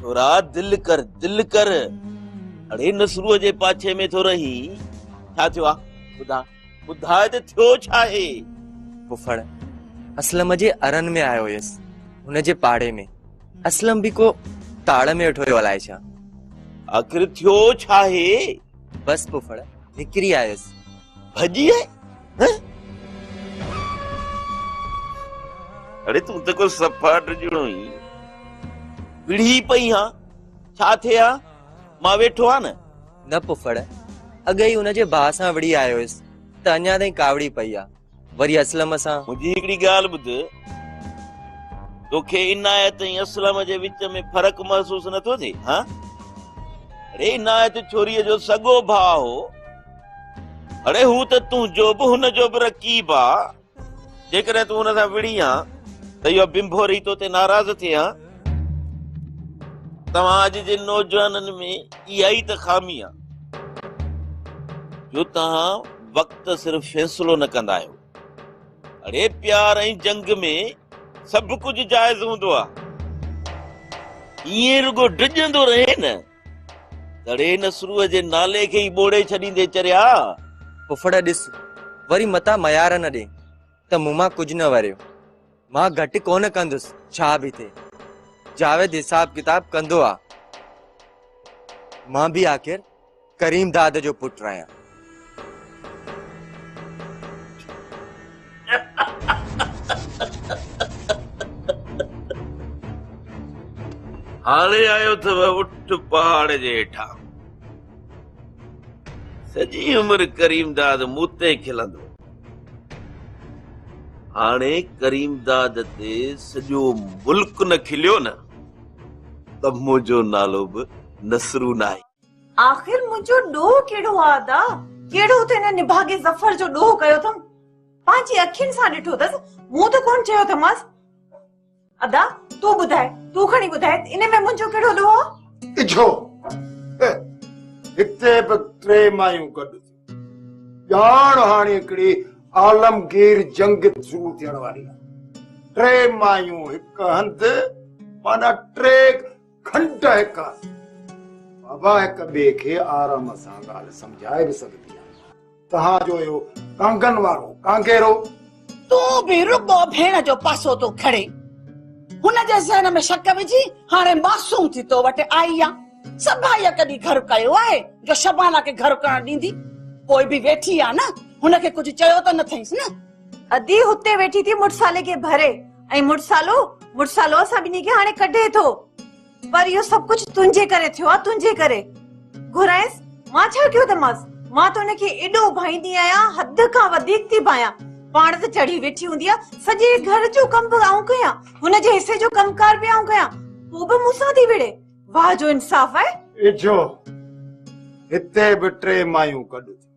ڇورا دل ڪر دل ڪر اڙي نسرو جي پاڇي ۾ ٿو رهي ڇا ٿيو آ ٻڌا ٻڌاء ته ٿيو ڇا آهي پڦڙ اسلم جي ارن ۾ آيو هيس هن جي پاڙي ۾ اسلم به ڪو تاڙ ۾ ويٺو هيو الائي ڇا آخر ٿيو ڇا آهي بس پڦڙ نڪري آيس ڀڄي آئي ها اڙي تون ته ڪو صفا ڊڄڻو ئي وڙهي پئي ها ڇا ٿئي ها مان ويٺو آ نه نه پڦڙ اڳ ئي ان جي ڀاء سان وڙهي آيو هيس ته اڃا تائين ڪاوڙي پئي آ وري اسلم سان. منهنجي هڪڙي ڳالهه ٻڌ، توکي عنايت ۽ اسلم جي وچ ۾ فرق محسوس نه ٿو ٿئي؟ ها؟ اڙي عنايت ڇوريء جو سڳو ڀاء هو. اڙي هو ته تنهنجو به هن جو به رقيب آ. جيڪڏهن تون هن سان وڙهين ها ته اهو بنڀوري توتي ناراض ٿئي ها. توهان اڄ جي نوجوانن ۾ اها ئي ته خامي آ جو توهان وقت صرف فيصلو نه ڪندا آهيو اڙي پيار ۽ جنگ ۾ سڀ ڪجهه جائز هوندو آ ائين رڳو ڊڄندو رهي نه دڙي نسرو جي نالي کي ئي ٻوڙي ڇڏيندي چريا ڦڦڙ ڏس وري متان ميار نه ڏي ته مون مان ڪجهه نه وريو. مان گهٽ ڪونه ڪندس ڇا به ٿئي جاويد حساب ڪتاب ڪندو آ مان به آخر ڪريم داد جو پٽ آهيان هاڻي آيو اٿو اٺ پهاڙ جي هيٺان سڄي عمر ڪريم داد مون تي کلندو هاڻي ڪريمداد تي سڄو ملڪ نه کليو نه ته منهنجو نالو به نصرو ناهي. آخر منهنجو ڏوهه ڪهڙو آ ادا؟ ڪهڙو ته هن نڀاڳي ظفر جو ڏوهه ڪيو اٿم. پنهنجي اکين سان ڏٺو اٿس، مون ته ڪونه چيو اٿمانس. ادا تون ٻڌاء تون کڻي ٻڌاء ان ۾ منهنجو ڪهڙو ڏوهه آ اجهو هتي به ٽي مايون گڏ ڄاڻ هاڻي هڪڙي عالمگير جنگ شروع ٿيڻ واري آ ٽي مايون هڪ هنڌ مانا ٽي کنڊ هڪ هنڌ بابا هڪ ٻئي کي آرام سان ڳالهه سمجهائي به سگهبي آ تهان جو اهو ڪانگن وارو ڪانگيرو. تون به رڳو ڀيڻ جو پاسو ٿو کڻي. هن جي ذهن ۾ شڪ وجهي هاڻي معصوم ٿي تو وٽ آئي آ. سڀائيء ڪڏهن گهر ڪيو آهي جو شبانا کي گهر ڪرڻ ڏيندي. پوء به ويٺي آ نه، هن کي ڪجهه چيو ته نه ٿئينس نه. ادي هتي ويٺي ٿي مڙسالي کي ڀري ۽ مڙسالو مڙسالو اسان ٻنهي کي هاڻي ڪڍي ٿو. پر اهو سڀ ڪجهه تنهنجي ڪري ٿيو آهي، تنهنجي ڪري. گهرائينس، مان ڇا ڪيو اٿمانس؟ مان ته ان کي ايڏو ڀائيندي آهيان، حد کان وڌيڪ ٿي ڀانيان. پاڻ ته چڙهي ويٺي هوندي آهي، سڄي گهر جو ڪم به آئون ڪيان، هن جي حصي جو ڪم ڪار به آئون ڪيان، پوء به مون سان ٿي وڙهي. واهه جو انصاف آهي. اچو، هتي به ٽي مايون گڏ ٿيون.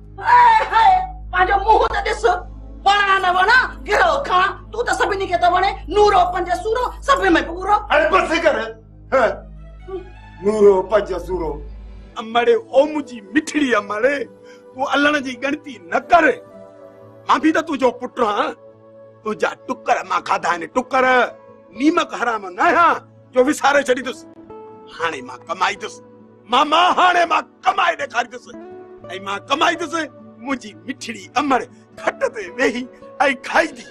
هاء هاء پنهنجو منهن ته ڏس وڻا نه وڻا گرو کاڻ تون ته سڀني کي ته وڻي نورو پنج سورو سڀ ۾ پورو هاڻي بس ڪر نورو پنج سورو امڙي او منهنجي مٺڙي امڙي تون الڻ جي ڳڻتي نه ڪر مان به ته تنهنجو پٽ آهيان تنهنجا ٽڪر مان کاڌا آهن ٽڪر نيمڪ حرام نه آهيان جو وساري ڇڏيندس هاڻي مان ڪمائيندس ماما هاڻي مان ڪمائي ڏيکاريندس ۽ مان ڪمائيندس منهنجي مٺڙي امڙ کٽ تي ويهي ۽ کائيندي.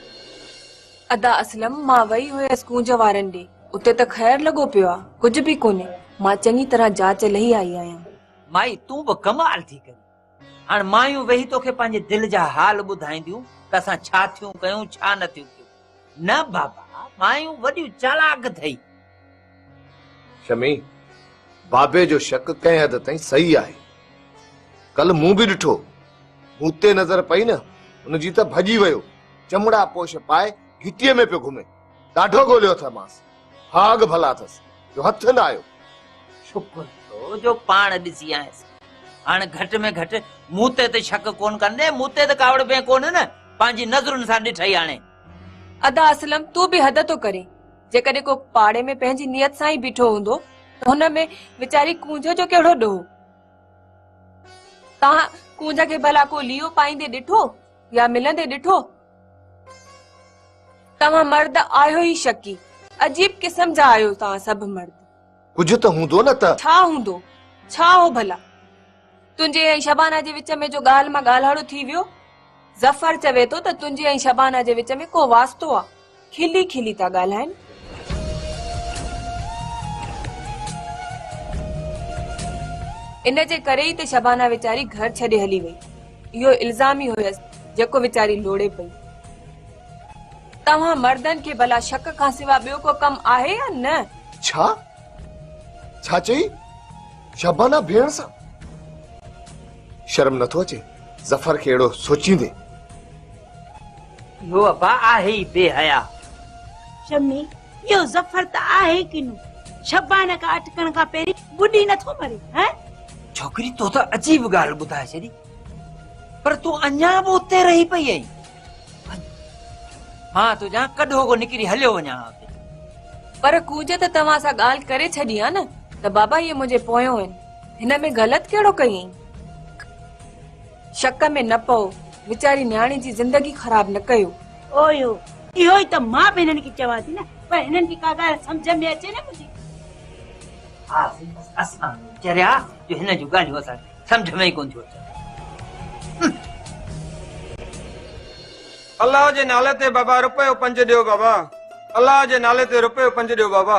ادا اسلم مان وئي هيس ڪونج وارن ڏي اتي ته خير لڳو پيو آ ڪجهه به ڪونهي مان چڱي طرح جاچ لهي آئي آهيان. مائي تون به ڪمال ٿي ڪرين. هاڻ مايون ويهي توکي پنهنجي دل جا حال ٻڌائينديون ته اسان ڇا ٿيون ڪيون ڇا نه ٿيون ڪيون. نه بابا مايون وڏيون چالاڪ اٿئي. شمي، بابي جو شڪ ڪنهن حد تائين صحيح آهي. ڪل مون به ڏٺو. مون تي نظر پئي نه، هن جي ته ڀڄي ويو. چمڙا پوش پائي گهٽيء ۾ پيو گهمي. ڏاڍو ڳوليو اٿئي مانس ڀاڳ ڀلا اٿس جو هٿ نه آيو. شڪر ٿيو جو پاڻ ڏسي آيس. هاڻ گهٽ ۾ گهٽ مون تي ته شڪ ڪونه ڪن ڏي مون تي ته ڪاوڙبين ڪونه نه پنهنجي نظرن سان ڏٺئي هاڻي. ادا اسلم تون به حد ٿو ڪرين جيڪڏهن ڪو پاڙي ۾ پنهنجي نيت سان ئي بيٺو هوندو ته هن ۾ ويچاري ڪونجهه جو ڪهڙو ڏوهه. تنهن ڪونجهه کي ڀلا ڪو ليئو پائيندي ڏٺو يا ملندي ڏٺو. توهان مرد آهيو ئي شڪي. عجيب قسم جا آهيو توهان سڀ مرد. ڪجهه ته هوندو نه ته. ڇا هوندو؟ ڇا هو ڀلا؟ تنهنجي ۽ شبانه جي وچ ۾ جو ڳالهه مان ڳالهاڙو ٿي ويو. ظفر چوي ٿو ته تنهنجي ۽ شبانه جي وچ ۾ ڪو واسطو آ. کلي کلي ٿا ڳالهائين. ان جي ڪري ئي ته شبانه ويچاري گهر ڇڏي هلي وئي. اهو الزام ئي هيس جيڪو ويچاري لوڙي پئي. توهان مردن کي ڀلا شڪ کان سوا ٻيو ڪو ڪم آهي يا نه؟ ڇا؟ ڇا چئي؟ شبانه ڀيڻ سان؟ شرم نٿو اچي ظفر کي اهڙو سوچيندي؟ اهو ابا آهي ئي بي حياء. شمي، اهو ظفر ته آهي ئي ڪنو. شبانه کان اٽڪڻ کان پهرين ٻڏي نه ٿو مري، هه. ڇوڪري تو ته عجيب ڳالهه ٻڌائي ڇڏي. پر تون اڃا به اتي رهي پئي آهين. وڃ، مان تنهنجان ڪڏهو ڪو نڪري هليو وڃان ها اتي. پر ڪوجه ته توهان سان ڳالهه ڪري ڇڏي ها نه ته بابا اهي منهنجي پويون آهن. هن ۾ غلط ڪهڙو ڪئي اهين؟ شڪ ۾ نه پئو، ويچاري نياڻي جي زندگي خراب نه ڪيو. او يو، اهو ئي ته مان به هنن کي چوان ٿي نه، پر هنن کي ڪا ڳالهه سمجهه ۾ اچي نه منهنجي. ها سائين، بس اسان به چريا جو هنن جون ڳالهيون اسان کي سمجهه ۾ ئي ڪونه ٿيون اچن. الله جي نالي تي بابا رپيو پنج ڏيو بابا الله جي نالي تي رپيو پنج ڏيو بابا.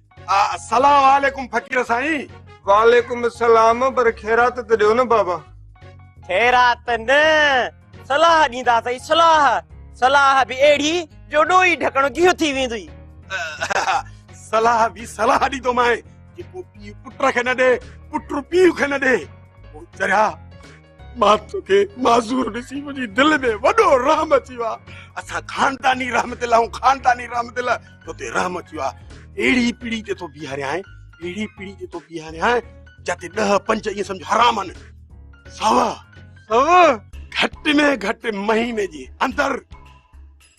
السلام عليڪم فقير سائين وعليڪم السلام پر خيرات ته ڏيو نه بابا خيرات نه صلاح ڏيندا سائين صلاح صلاح به اهڙي جو ڏوئي ڍڪڻ گيهه ٿي ويندي صلاح به صلاح ڏي تو مائي جيڪو پيء پٽ کي نه ڏي پٽ پيء کي نه ڏي چريا مان توکي معذور ڏسي منهنجي دل ۾ وڏو رحم اچي ويو آهي اسان خانداني رحمت الله ۽ خانداني رحمت الله تو تي رحم اچي ويو آهي اهڙي پيڙهي تي تو بيهاريان اهڙي پيڙهي تي تو بيهاريان جتي ڏهه پنج ائين سمجھ حرام آهن سوا سوا گهٽ ۾ گهٽ مهيني جي اندر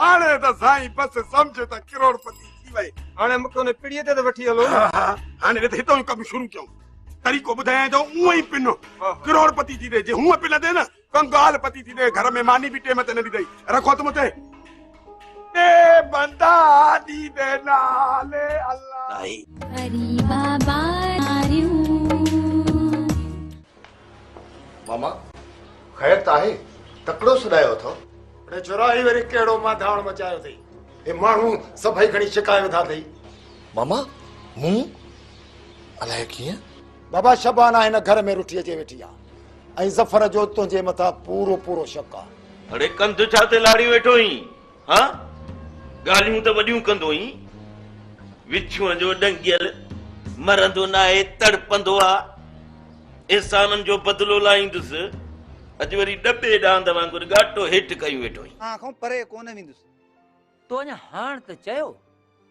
هاڻي ته سائين بس سمجهه ته ڪروڙپتي ٿي وئي. هاڻي مونکي ان پڙي تي ته وٺي هلو نه. ها هاڻي رٿ هتان ئي ڪم شروع ڪيون. طريقو ٻڌايان جو اونء ئي پنو ڪروڙپتي ٿي ڏي. جي هونء پي لڌي نه ڪنگال پتي ٿي ڏي. گهر ۾ ماني به ٽيم تي نه ڏيندئي. رک هٿ مون تي. ڏي بندا ڏيندي نالي الله. ڏاهي. ماما خير ته آهي تڪڙو سڏايو اٿو. اڙي ڇورا هي وري ڪهڙو مانڌاوڻ مچايو اٿئي. هي ماڻهو سڀئي کڻي شڪايو وڌا اٿئي. ماما مون الائي ڪيئن. بابا شبانه هن گهر ۾ رٺي اچي ويٺي آ ۽ ظفر جو تنهنجي مٿان پورو پورو شڪ آ. اڙي ڪنڌ ڇا تي لاڙي ويٺو هين. ها! ڳالهيون ته وڏيون ڪندوئين، وڇون جو ڏنگيل مرندو ناهي، تڙپندو آ. احسانن جو بدلو لاهيندس. اڄ وري ڏٻي ڏاند وانگر ڳاٽو هيٺ ڪيون ويٺو آهين. مان کان پري ڪونه ويندس. تو اڃا هاڻ ته چيو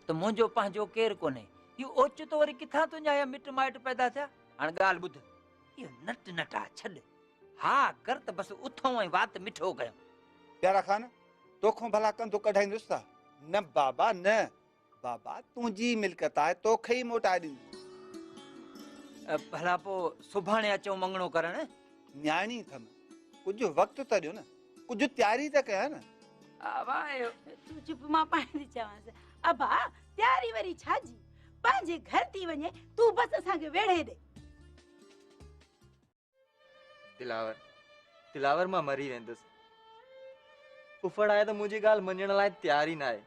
ته منهنجو پنهنجو ڪير ڪونهي. اهو اوچتو وري ڪٿان تنهنجا اهي مٽ مائٽ پيدا ٿيا؟ هاڻ ڳالهه ٻڌ. اهو نٽ نٽاء ڇڏ. ها ڪر ته بس اٿئون ۽ وات مٺو ڪيون. پيارا خان! توکون ڀلا ڪنڌ ڪڍائيندس ته نه بابا نه بابا تنهنجي ملڪت آهي توکي ئي موٽائي ڏيندس ڀلا پو سڀاڻي اچون مڱڻو ڪرڻ نياڻي ٿم ڪجهه وقت ته ڏيو نه ڪجهه تياري ته ڪيا نه ابا تون چپ مان پائين ٿي چوانس ابا تياري وري ڇا جي پنهنجي گهر ٿي وڃي تون بس اسان کي ويڙهي ڏي دلاور، دلاور مان مري ويندس. ڦڦڙ آهي ته منهنجي ڳالهه مڃڻ لاء تيار ئي ناهي.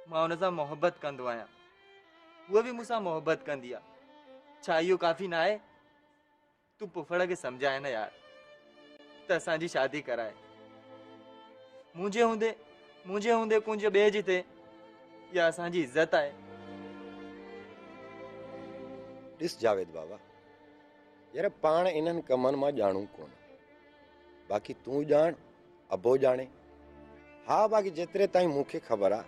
مان هن سان محبت ڪندو آهيان. هوء به مون سان محبت ڪندي آ. ڇا اهو ڪافي ناهي؟ تون ڦڦڙ کي سمجهاء نه يار ته اسان جي شادي ڪرائي. منهنجي هوندي منهنجي هوندي ڪنج ٻئي جي ٿئي اها اسان جي عزت آهي. ڏس جاويد بابا يار پاڻ انهن ڪمن مان ڄاڻون ڪونه باقي تون ڄاڻ ابو ڄاڻي ها باقي جيتري تائين مون کي خبر آ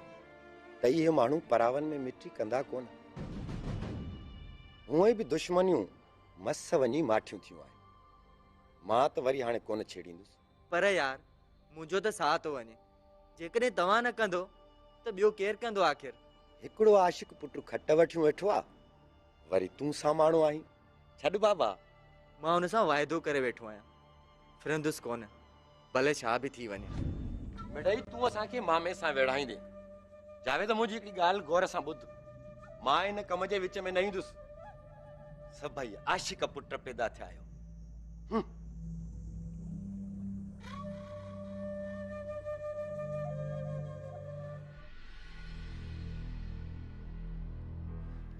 ته اهي ماڻهو پراون ۾ مٽي ڪندا ڪونه هونئن به دشمنيون مس وڃي ماٺيون ٿيون آهن مان ته وري هاڻي ڪونه ڇيڙيندس پر يار منهنجو ته ساهه ٿو وڃي. جيڪڏهن توهان نه ڪندو ته ٻيو ڪير ڪندو آخر. هڪڙو عاشق پٽ کٽ وٺيون ويٺو آ وري تون ساماڻو آهين ڇڏ بابا. مان هن سان واعدو ڪري ويٺو آهيان ڦرندس ڪونه ڀلي ڇا به ٿي وڃي. مڙئي تون اسان کي مامي سان ويڙهائيندين. جاويد منهنجي هڪڙي ڳالهه غور سان ٻڌ مان ان ڪم جي وچ ۾ نه ايندس. سڀئي عاشق پٽ پيدا ٿيا آهيو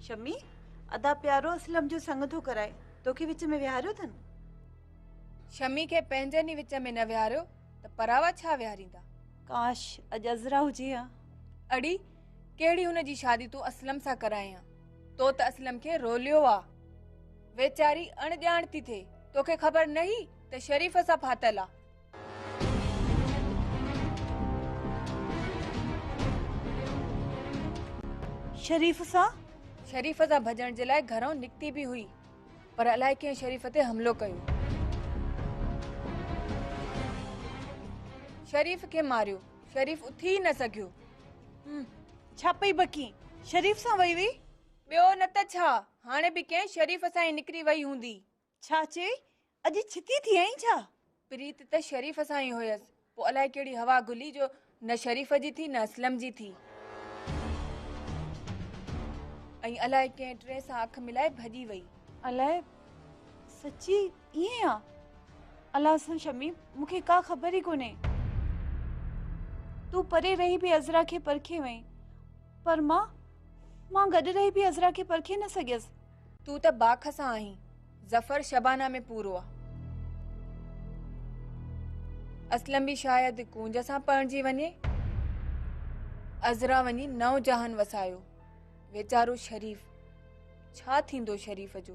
شمي ادا پيارو اسلم جو سنگ ٿو ڪرائي توکي وچ ۾ ويهاريو اٿن شمي کي پنهنجن ئي وچ ۾ نه ويهاريو ته پراوا ڇا ويهاريندا ڪاش اڄ عزرا هجي ها اڙي ڪهڙي هن جي شادي تون اسلم سان ڪرائين ها تو ته اسلم کي روليو آ. ويچاري اڻ ڄاڻ ٿي ٿئي. توکي خبر نه هي ته شريف سان ڦاٿل آ. شريف سان؟ شريف سان ڀڄڻ جي لاء گهرئون نڪتي به هئي. پر الائي ڪنهن شريف تي حملو ڪيو. شريف کي ماريو. شريف اٿي ئي نه سگهيو. ڇا پئي بڪين؟ شريف سان وئي هئي؟ ٻيو نه ته ڇا، هاڻي به ڪنهن شريف سان ئي نڪري وئي هوندي. ڇا چئي؟ اڄ ڇتي ٿي آئين ڇا؟ پريت ته شريف سان ئي هيس، پوء الائي ڪهڙي هوا گهلي جو نه شريف جي ٿي نه اسلم جي ٿي. ۽ الائي ڪنهن ٽئين سان اک ملائي ڀڄي وئي. الائي سچي ائين آ؟ الله سان شمي مون کي ڪا خبر ئي ڪونهي. تون پري رهي به عذرا کي پرکي وئين پر مان مان گڏ رهي به عذرا کي پرکي نه سگهيس. تون ته باک سان آهين، ظفر شبانه ۾ پورو آ. اسلم به شايد ڪونج سان پرڻجي وڃي. عذرا وڃي نئون جهان وسايو. ويچارو شريف، ڇا ٿيندو شريف جو؟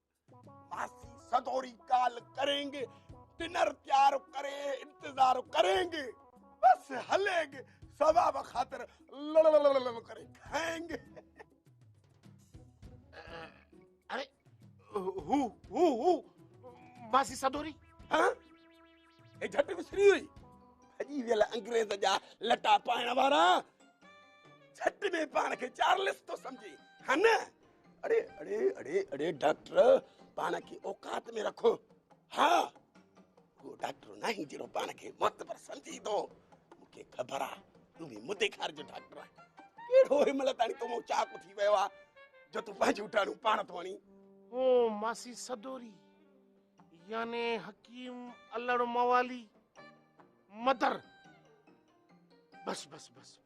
ماسي سدوري ڪال ڪرين گي ڊنر تيار ڪري انتظار ڪرين گي بس هلين گي ثواب خاطر لڙ ڪري کائين گي اري هو هو هو ماسي سدوري ها اي جھٽ وسري هئي اڄي ويل انگريز جا لٽا پائڻ وارا جھٽ ۾ پاڻ کي چارلس تو سمجھي هن اڙي اڙي اڙي اڙي ڊاڪٽر پاڻ کي اوقات ۾ رکو ها هو ڊاڪٽر ناهي جهڙو پاڻ کي معتبر سمجهي ٿو مونکي خبر آ تون به مدي کار جو ڊاڪٽر آهي ڪهڙو هي مل تاڻي تو مون چاڪ ٿي ويو آ جو تون پنهنجو ٽاڻو پاڻ ٿو آڻي هو ماسي سدوري يعني حڪيم الڙ موالي مدر بس بس بس بس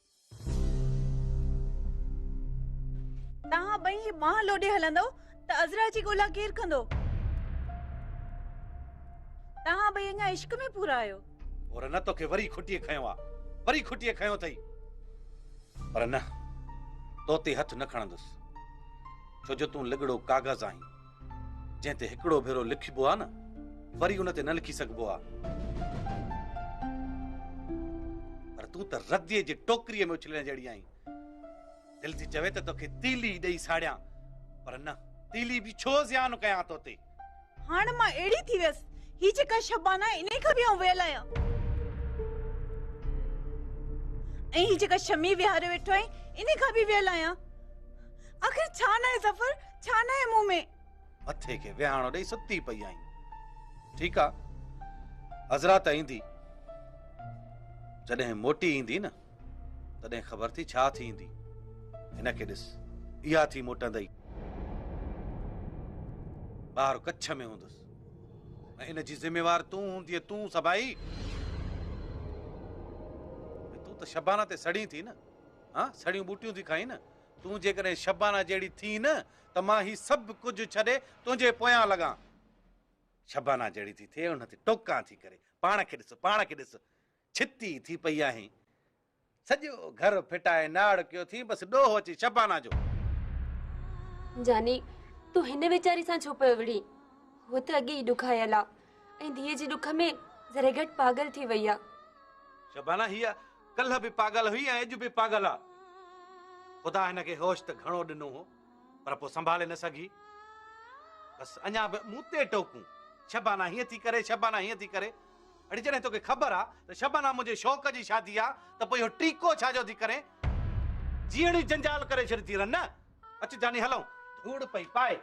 توهان ٻئي هي ماهه لوڏي هلندؤ ته عذرا جي ڳولا ڪير ڪندو؟ توهان ٻئي اڃا عشق ۾ پورا آهيو. حور نه توکي وري کٽيء کنيو آ، وري کٽيء کنيو اٿئي. پر نه، تو تي هٿ نه کڻندس، ڇو جو تون لڳڙو ڪاغذ آهين. جنهن تي هڪڙو ڀيرو لکبو آ نه وري ان تي نه لکي سگهبو آ. پر تون ته رديء جي ٽوڪريء ۾ اڇلڻ جهڙي آهين. دل ٿي چوي ته توکي تيلي ئي ڏئي ساڙيان پر نه تيلي به ڇو زيان ڪيان تو تي. هاڻ مان اهڙي ٿي ويس. هي جيڪا شبانه آهي انهيء کان به آئون ويل آهيان. ۽ هي جيڪا شمي ويهاريو ويٺو آهين انهيء کان به ويل آهيان. آخر ڇا ناهي ظفر، ڇا ناهي مون ۾؟ مٿي کي ويهاڻو ڏئي ستي پئي آهين. ٺيڪ آ، عذرا ته ايندي. جڏهن موٽي ايندي نه، تڏهن خبر ٿي ڇا ٿيندي. هن کي ڏس، اها ٿي موٽندئي. ٻاهر ڪڇ ۾ هوندس ۽ ان جي ذميوار تون هوندينء، تون سڀائي. تون ته شبانه تي سڙين ٿي نه، هان سڙيون ٻوٽيون ٿي کائين نه، تون جيڪڏهن شبانه جهڙي ٿين نه ته مان هي سڀ ڪجهه ڇڏي تنهنجي پويان لڳان. شبانه جهڙي ٿي ٿئي ان تي ٽوڪان ٿي ڪري، پاڻ کي ڏس، پاڻ کي ڏس، ڇتي ٿي پئي آهين. سڄو گهر ڦٽائي ناڙ ڪيو اٿيئي، بس ڏوهه اچي شبانه جو. جاني، تون هن ويچاري سان ڇو پيو وڙهين؟ هوء ته اڳي ئي ڏکايل آ ۽ ڌيء جي ڏک ۾ ذري گهٽ پاڳل ٿي وئي آ. شبانه هيء ڪلهه به پاڳل هئي ۽ اڄ به پاڳل آ. خدا هن کي هوش ته گهڻو ڏنو هو پر پوء سنڀالي نه سگهي. بس اڃا به مون تي ٽوڪون، شبانا هيئن ٿي ڪري، شبانا هيئن ٿي ڪري. اڙي جڏهن توکي خبر آ ته شبانا منهنجي شوق جي شادي آ ته پوء اهو ٽيڪو ڇا جو ٿي ڪرين؟ جيئڻ ئي جنجال ڪري ڇڏيتي رن نه. اچ جاني هلون. ڌوڙ پئي پائي.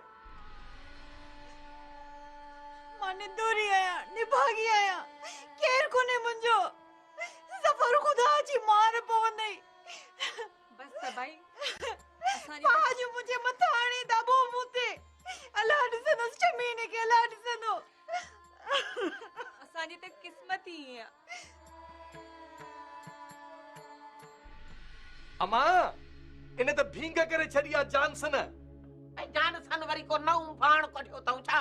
مان نندوري آهيان، نڀاڳي آهيان. ڪير ڪونهي منهنجو. ظفر خدا جي مار پوندئي. بس ته ڀائي اسان جي پاء جو منهنجي مٿان آڻي دٻو مون تي. الله ڏسندو شميني کي الله ڏسندو. اسان جي ته قسمت ئي ائين آ. امان ان ته ڀينگ ڪري ڇڏي آ جانسن. ۽ جانسن وري ڪو نئون ڀاڻ ڪڍيو اٿئون ڇا؟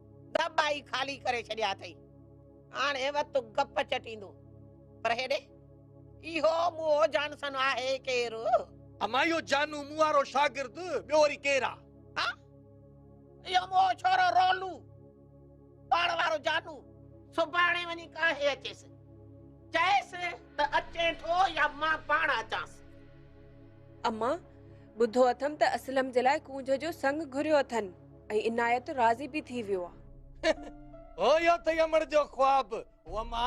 ته ٻائي خالي ڪري ڇڏيا اٿئي. هاڻ هي وت گپ چٽيندو. پر هيڏي، اهو موهو جانسن آهي ڪير؟ امان اهو جانو مون وارو شاگرد ٻيو وري ڪير آ؟ ها، اهو موهو ڇورو رولو، پاڻ وارو جانو. سڀاڻي وڃي ڪاهي اچيس. چئيس ته اچين ٿو يا مان پاڻ اچانس. امان، ٻڌو اٿم ته اسلم جي لاء ڪونج جو سڱ گهريو اٿن. ۽ عنايت راضي به ٿي ويو آ. هو اهو ٿئي امڙ جو خواب، هو اما!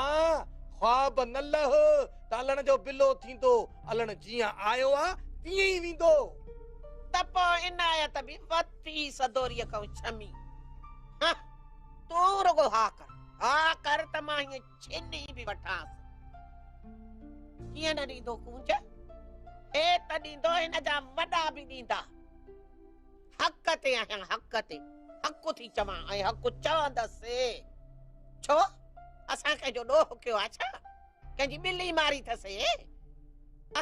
خواب نه لهه ته الڻ جو بلو ٿيندو، الڻ جيئن آيو آ، تيئن ئي ويندو. ته پوء عنايت به وٿي سدوريء کان ڇمي، هه! تون رڳو ها ڪر، ها ڪر ته مان هيء ڇني به وٺانس. ڪيئن نه ڏيندو ڪونج، هي ته ڏيندو، هن جا وڏا به ڏيندا. حق تي آهيان حق تي حق ٿي چوان ۽ حق چوندس ڇو اسان ڪنهن جو ڏوهه ڪيو آ ڇا ڪنهن جي ٻلي ماري ٿسي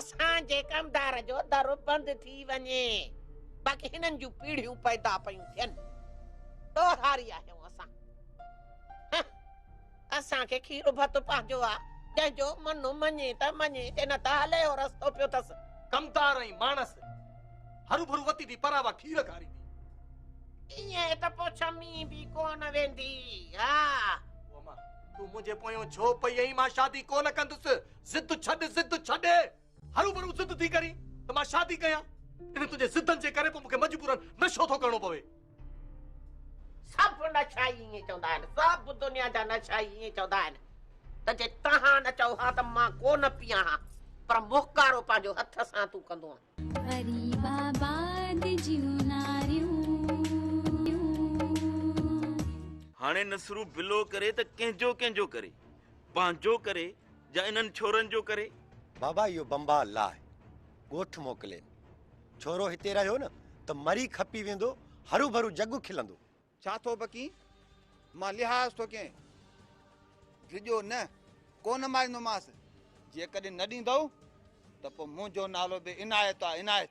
اسان جي ڪمدار جو در بند ٿي وڃي باقي هنن جون پيڙهيون پيدا پيون ٿين ڏوهاري آهيون اسان اسان کي کير ڀت پنهنجو آ، جنهن جو من مڃي ته مڃي، جي نه ته هلي اهو رستو پيو ٿس. ڪمتار ۽ ماڻس هروڀرو وتي ٿي پراوا کير کاريندي. ائين ته پوء ڇمي به ڪونه ويندي ها. اما! تون منهنجي پويون ڇو پئي ايئين، مان شادي ڪونه ڪندس، ضد ڇڏ، ضد ڇڏ. هروڀرو ضد ٿي ڪرين ته مان شادي ڪيان. انهن تنهنجي ضدن جي ڪري پوء مون کي مجبورن نشو ٿو ڪرڻو پوي. سڀ نشا ئي ائين چوندا آهن. سڀ دنيا جا نشا ئي ائين چوندا آهن ته جي توهان نه چئو ها ته مان ڪو نه پيان ها پر مهڪارو پنهنجو هٿ سان تون ڪندو آهين. غريب آباد جون ناريون. هاڻي نصرو بلو ڪري ته ڪنهنجو ڪنهنجو ڪري. پنهنجو ڪري يا انهن ڇورن جو ڪري؟ بابا اهو بمبا لاهه ڳوٺ موڪلين. ڇورو هتي رهيو نه ته مري کپي ويندو، هروڀرو جڳ کلندو. ڇا ٿو بڪين؟ مان لحاظ ٿو ڪين. ڊڄو نه، ڪو نه ماريندومانس. جيڪڏهن نه ڏيندئو ته پوء منهنجو نالو به عنايت آ، عنايت.